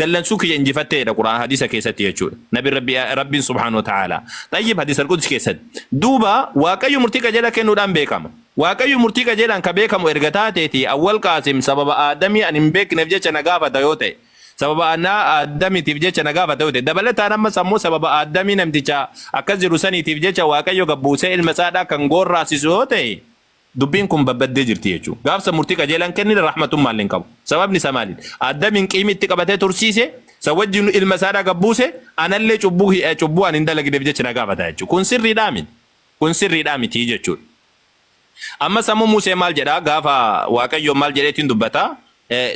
dallansuu kiyya injifattee jedha qur'aan hadiisa keessatti jechuudha nabi rabbi rabbiin subhaanahu wa ta'aala xayyib hadiisa alqudsi keessatti duuba waaqayyo murtii qajeelaa kennuudhaan beekama waaqayyo murtii qajeelaan ka beekamu erga taateeti awwal qaasim sababa aadamii an hin beekneef jecha na gaafata yoo ta'e sababa anaa aadamitiif jecha na gaafata yoo ta'e dabalataan ammas ammoo sababa aadamii namticha akkas jiru saniitiif jecha waaqayyo gabbuusee ilma isaadhaa kan goorraasisu yoo ta'e Dubbiin kun babbaddee jirti jechuun gaaf san murtii qajeelaa hin kennine rahmatummaalle hin qabu. Sababni isaa maaliin? Addamiin qiimi itti qabatee tursiise, san wajjiinu ilma isaadhaa gad buuse, anallee cubbuu cubbuu ani hin dalagneef jecha na gaafata jechuudha. Kun sirriidhaa miti. Kun sirriidhaa miti jechuudha. Ammas ammoo Museen maal jedhaa? Gaafa Waaqayyoon maal jedheetiin dubbata?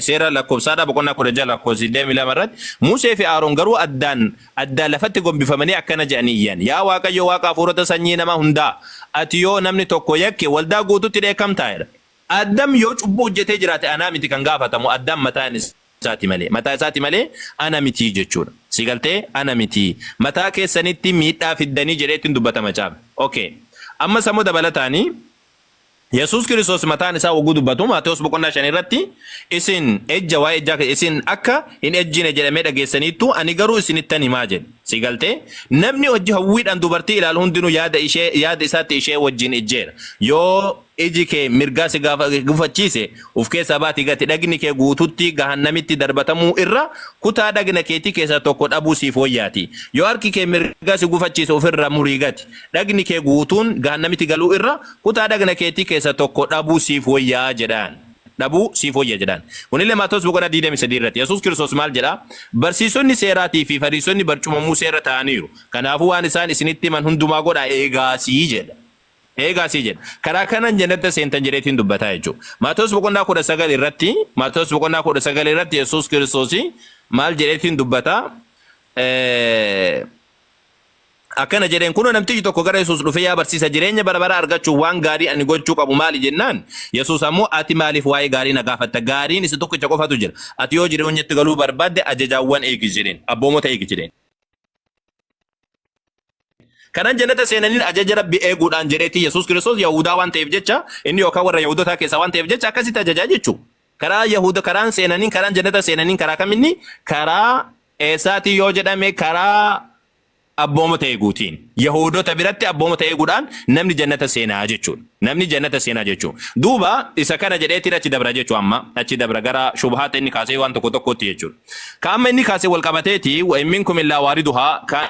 Seera Lakkoofsaadhaa boqonnaa 16 lakkoofsa 22 irratti Musee fi Aaron garuu addaan addaan lafatti gombifamanii akkana jedhanii iyyan. Yaa Waaqayyo Waaqa hafuurota sanyii nama hundaa, ati yoo namni tokko yakke waldaa guutuutti dheekkamtaa? jedhan. Addam yoo cubbuu hojjetee jiraate anaa miti kan gaafatamu Addaam mataa isaati malee. Mataa isaati malee ana miti jechuudha. Si galtee? Ana miti. Mataa keessanitti miidhaa fiddanii jedhee ittiin dubbata macaafni. Ok. Ammas ammoo dabalataanii Yesuus Kiristoos mataan isaa wagguu dubbatu Maatewos boqonnaa shan irratti isin ejja waa'ee ejjaa kee- isin akka hin ejjine jedhamee dhageessaniittu ani garuu isinittan himaa jedhe. Si galtee? Namni hojji hawwiidhaan dubartii ilaalu hundinuu yaada ishee yaada isaatti ishee wajjin ejjeera. Yoo iji kee mirgaa si gaafa- gufachiise of keessaa baati gati dhagni kee guututti gahannamitti darbatamuu irra kutaa dhagna keetii keessaa tokko dhabuu siif wayyaati. Yoo harki kee mirgaa si gufachiise ofirraa murii gati. Dhagni kee guutuun gahannamitti galuu irra Kutaa dhagna keetii keessa tokko dhabuu siif woyyaa jedhaan. Dhabuu siif woyya jedhaan. Kunillee Maatewos boqonnaa 23 irratti. Yesuus Kiristoos maal jedhaa? Barsiisonni seeraatii fi Fariisonni barcuma Musee irra taa'aniiru. Kanaafuu waan isaan isinitti himan hundumaa godhaa eegaasii jedha. Eegaasii jedha. Karaa kanaan jannata seentan jedheetiin dubbataa jechuudha. Maatewos boqonnaa 19 irratti Maatewos boqonnaa 19 irratti Yesuus Kiristoos maal jedheetiin dubbataa? Akkana jedheen, Kunoo namtichi tokko gara Yesuus dhufee, Yaa barsiisa, jireenya bara baraa argachuuf waan gaarii ani gochuu qabu maali? jennaan, Yesuus ammoo, Ati maaliif waa'ee gaarii na gaafatta? Gaariin isa tokkicha qofatu jira. Ati yoo jireenyatti galuu barbaadde ajajaawwan eegi jedheen, abboomota eegi jedheen. Kanan jannata seenaniin ajaja Rabbii eeguudhaan jedheetii Yesuus Kiristoos Yahuudaa waan ta'eef jecha, inni yookaan warra Yahuudotaa keessaa waan ta'eef jecha akkasitti ajajaa jechuudha. Karaa Yahuda karaan seenaniin karaan jannata seenaniin karaa kaminni karaa eessaatii yoo jedhame karaa abboomota eeguutiin. Yahudota biratti abboomota eeguudhaan namni jannata seenaa jechuudha. Namni jannata seenaa jechuudha. Duuba isa kana jedheetiin achi dabra jechuu amma achi dabra gara shubhaata inni kaasee waan tokko tokkootti jechuudha. Ka amma inni kaasee wal qabateeti wa imminkum illaa waariduhaa ka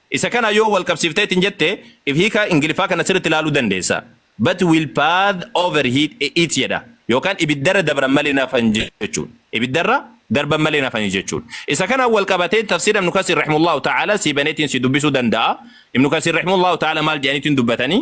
Isa kana yoo wal qabsiiftee ittiin jette if hiika Ingiliffaa kana sirriitti ilaaluu dandeessa. But will path overheat it jedha. Yookaan ibiddarra dabran malee hin hafan jechuun. Ibiddarra darban malee hin hafan jechuun. Isa kanaan wal qabatee tafsiira Ibnu Kasiir rahimullahu ta'ala sii baneetiin sii dubbisuu danda'a. Ibnu Kasiir rahimullahu ta'ala maal jedhaniitiin dubbatanii?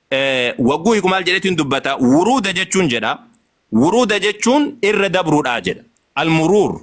Wagguu hiiku maal jedheetiin dubbata? Wuruuda jechuun jedha. Wuruuda jechuun irra dabruudhaa jedha. Almuruur.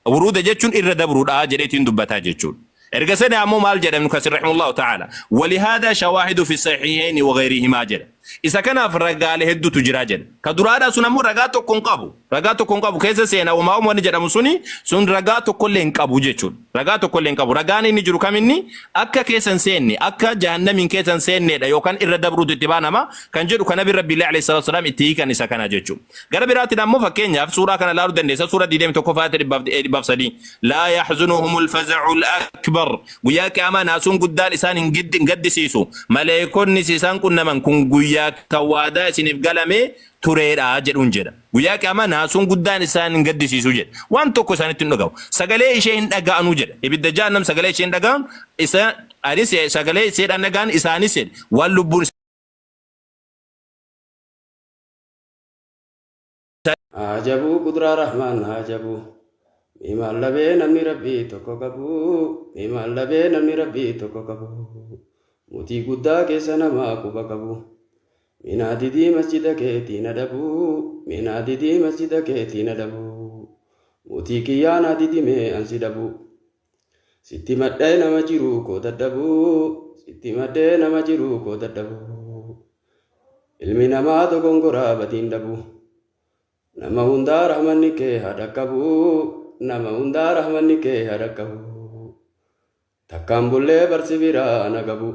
Wuruuda jechuun irra dabruudhaa jedheetiin dubbataa jechuudha. Erga sana ammoo maal jedha Ibnu Kasiir rahimahullahu ta'ala? Walihaadaa shawaahidu fi sahiihayni wa ghayrihimaa jedha. Isa kanaaf ragaalee hedduutu jira jedha. Ka duraadhaa sun ammoo ragaa tokko hin qabu. Ragaa tokko hin qabu keessa seena uumaa uummanni jedhamu suni sun ragaa tokkollee hin qabu jechuudha. Ragaa tokkollee hin qabu. Ragaan inni jiru kam inni akka keessa hin seenne akka jahannamiin keessa hin seenneedha yookaan irra dabruutu itti baanama kan jedhu kan nabi rabbiillee alayhi salaatu wasalaam itti hiikan isa kana jechuudha. Gara biraatiin ammoo fakkeenyaaf suuraa kana ilaaluu dandeessa suuraa 21 faayata 103 laa yaxzunuhumul faza'ul akbar guyyaa qiyaamaa naasuun guddaan isaan hin giddi- hin gaddisiisu maleekonnis isaan qunnaman kun guyyaa kan waadaa isiniif galamee tureedha jedhuun jedha. Guyyaa qiyaamaa naasuun guddaan isaan hin gaddisiisu jedhe. Waan tokko isaanitti hin dhagahu. Sagalee ishee hin dhaga'anu jedha. Ibidda jahannam sagalee ishee hin dhaga'an isa anis sagalee isheedhaan dhaga'an isaanis jedhe. Waan lubbuun Ajabuu qudraa rahmaan ajabuu. Mee maal dhabee namni rabbii tokko qabu. Mee maal dhabee namni rabbii tokko qabu. Mootii guddaa keessa namaa quba qabu. Mee naa didii masjida keetii na dhabuu Mee naa didii masjida keetii na dhabuu Mootii kiyyaa naa didi mee an si dhabuu Sitti madhee nama jiruu koo dadhabuu Sitti madhee nama jiruu koo dadhabuu Ilmi namaa dogongoraa badiin dhabuu Nama hundaa rahmanni kee haa dhaqqabuu Nama hundaa rahmanni kee haa dhaqqabuu Takkaan bullee barsi biraa ana gabuu